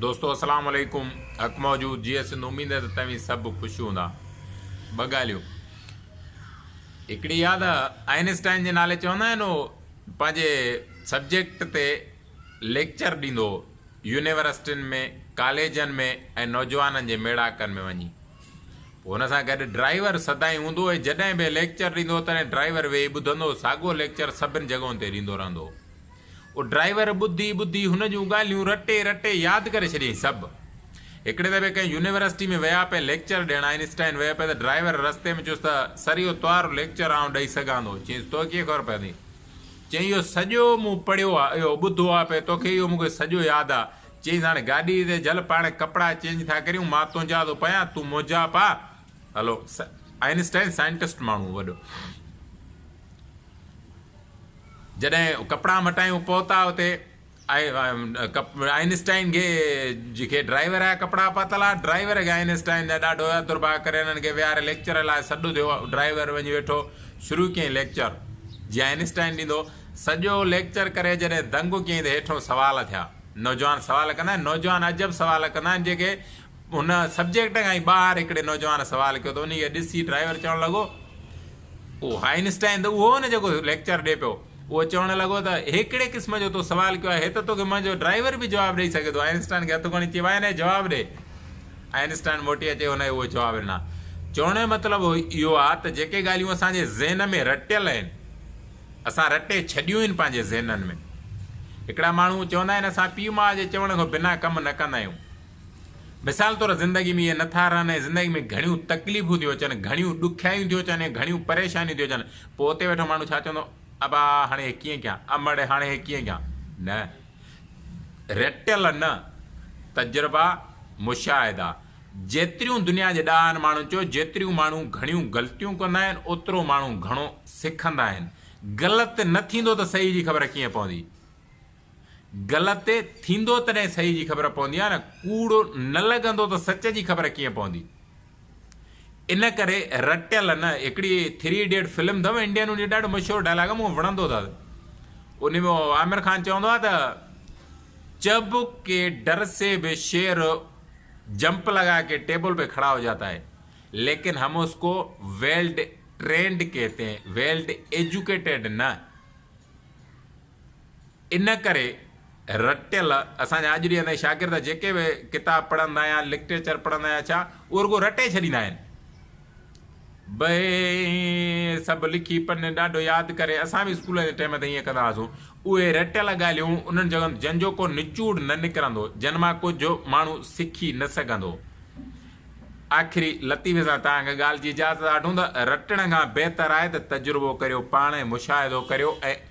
دوستو السلام عليڪم حق موجود جيئي سنڌ اميد ته توهين سڀ خوش هوندا ٻه ڳالهيون هڪڙي ياد آئنسٽائن جي نالي چوندا آهن هو پنهنجي سبجيڪٽ تي ليڪچر ڏيندو يونيورسٽين ۾ ڪاليجن ۾ ۽ نوجوانن جي ميڙاڪن ۾ وڃي پوء هن سان گڏ ڊرائيور سدائين هوندو هو جڏهن به ليڪچر ڏيندو هو تڏهن ڊرائيور ويهي ٻڌندو هو ساڳو ليڪچر سڀن جڳهن تي ڏيندو رهندو هو او ڊرائيور ٻڌي ٻڌي هن جون ڳالهيون رٽي رٽي ياد ڪري ڇڏيائين سڀ. هڪڙي دفعي ڪنهن يونيورسٽي ۾ ويا پئي ليڪچر ڏيڻ آئن اسٽائن ويو پئي ته ڊرائيور رستي ۾ چيس ته سر اهو توهارو ليڪچر آئون ڏئي سگهان ٿو؟ چيس توکي ڪيئن خبر پوندي؟ چيائين اهو سڄو مون پڙهيو آ اهو ٻڌو آ پئي توکي اهو مون کي سڄو ياد آ. چيس هاڻي گاڏي تي جهل پاڻ ڪپڙا چينج ٿا ڪريون مان تنهنجا ٿو پايان تون منهنجا پا هلو. آئن اسٽائن سائنٽسٽ ماڻهو هو وڏو. جڏهن ڪپڙا مٽايون پهتا اتي آئنسٽائن کي جيڪي ڊرائيور جا ڪپڙا پاتل ها ڊرائيور کي آئنسٽائن جا ڏاڍو هيا درڀاء ڪري انهن کي ويهاري ليڪچر لاء سڏ ٿيو ڊرائيور وڃي ويٺو شروع ڪيائين ليڪچر جي آئنسٽائن ڏيندو سڄو ليڪچر ڪري جڏهن دنگ ڪيائين ته هيٺون سوال ٿيا نوجوان سوال ڪندا آهن نوجوان عجب سوال ڪندا آهن جيڪي ان سبجيڪٽ کان ئي ٻاهر هڪڙي نوجوان سوال ڪيو ته انهي کي ڏسي ڊرائيور چوڻ لڳو، اهو آئنسٽائن ته اهو هو نه جيڪو ليڪچر ڏئي پيو. اهو چوڻ لڳو ته هي ڪهڙي قسم جو تو سوال ڪيو آهي، هي ته توکي منهنجو ڊرائيور به جواب ڏئي سگهي ٿو. آئنسٽائن کي هٿ کڻي چيو، آء نه اهي جواب ڏي. آئنسٽائن موٽي اچي ان کي اهي جواب ڏنا. چوڻ جو مطلب اهو آهي ته جيڪي ڳالهيون اسان جي ذهن ۾ رٽيل آهن، اسان رٽي ڇڏيون آهن پنهنجي ذهنن ۾. هڪڙا ماڻهو چوندا آهن اسان پيء ماء جي چوڻ کان بنا ڪم نه ڪندا آهيون. مثال طور زندگي ۾ اهي نه ٿا رهن ۽ زندگي ۾ گهڻيون تڪليفون ٿيون اچن، گهڻيون ڏکيائيون ٿيون اچن ۽ گهڻيون پريشانيون ٿيون اچن، پوء اتي ويٺو ماڻهو ڇا چوندو، ابا هاڻي هي ڪيئن ڪيان، امڙ هاڻي هي ڪيئن ڪيان، نه، رٽيل نه، تجربا، مشاهدا، جيتريون دنيا جي ڏاهن ماڻهن چيو، جيتريون ماڻهو گهڻيون غلطيون ڪندا آهن، اوترو ماڻهو گهڻو سکندا آهن، غلط نه ٿيندو ته صحيح جي خبر ڪيئن پوندي. غلط ٿيندو تڏهن صحيح جي خبر پوندي آ نه ڪوڙ نه لڳندو ته سچ جي خبر ڪيئن پوندي ان ڪري رٽيل نه هڪڙي ٿري ايڊيٽ فلم اٿم انڊين ان جو ڏاڍو مشهور ڊائلاگ آ مون وڻندو اٿس ان ۾ عامر خان چوندو آ ته چب ڪي ڊر سي به شير جمپ لگا ڪي ٽيبل پي کڙا هو جاتا هي ليڪن هم اس ڪو ويلڊ ٽرينڊ ڪهتي هين ويلڊ ايجوڪيٽيڊ نه ان ڪري رٽيل اسان جا اڄ ڏينهن تائين شاگرد جيڪي به ڪتاب پڙهندا يا لڪٽيچر پڙهندا يا ڇا اهو رڳو رٽي ڇڏيندا آهن. بئي سڀ لکي پنن ڏاڍو ياد ڪري اسان به اسڪول جي ٽيم تي ايئن ڪندا هئاسون اهي رٽيل ڳالهيون انهن جڳهن جن جو ڪو نچوڙ نه نڪرندو جن مان ڪجهه ماڻهو سکي نه سگهندو آخري لطيفي سان توهان کي ڳالهه جي اجازت آٺون ته رٽڻ کان بهتر آهي ته تجربو ڪريو پاڻ ۽ مشاهدو ڪريو ۽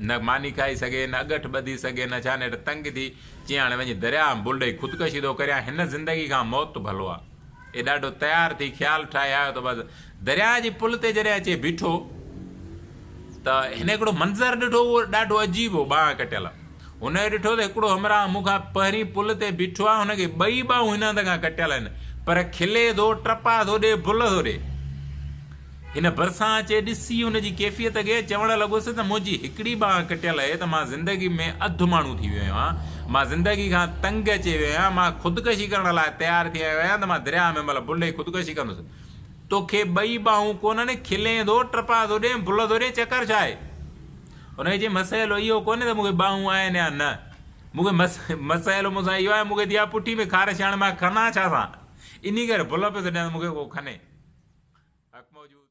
نه ماني کائي سگهي، نه اڳٺ ٻڌي سگهي، نه ڇاني هيٺ تنگ ٿي، چيئي هاڻي وڃي درياء ۾ بل ڏئي خودڪشي ٿو ڪريان، هن زندگي کان موت ڀلو آ. اي ڏاڍو تيار ٿي خيال ٺاهي آيو ته بس درياء جي پل تي جڏهن اچي بيٺو ته هن هڪڙو منظر ڏٺو اهو ڏاڍو عجيب هو ٻانهن ڪٽيل هن اهو ڏٺو ته هڪڙو همراهه مون کان پهرين پل تي بيٺو آ هن کي ٻئي ٻانهون هن هنڌ کان ڪٽيل آهن پر کلي ٿو ٽپا ٿو ڏي بل ٿو ڏي هن ڀرسان اچي ڏسي ان جي ڪيفيت کي چوڻ لڳس ته منهنجي هڪڙي ٻانهن ڪٽيل اهي ته مان زندگي ۾ اڌ ماڻهو ٿي ويو آهيان. مان زندگي کان تنگ اچي ويو آهيان. مان خودڪشي ڪرڻ لاء تيار ٿي آيو آهيان ته مان درياء ۾ ملهه ڀلهي خودڪشي ڪندس. توکي ٻئي ٻانهون ڪونهن؟ کلين ٿو، ٽپا ٿو ڏين، ڀل ٿو ڏين، چڪر ڇا آهي؟ هن کي چيم مسئلو اهو ڪونهي ته مون کي ٻانهون آهن يا نه. مون کي مسئلو مون سان اهو آهي مون کي ٿي آهي پٺي ۾ خارش هڻ مان ڪران ڇا سان؟ انهي ڪري ڀل پيو ٿو ڏيان ته مون کي ڪو کنهي. حق موجود.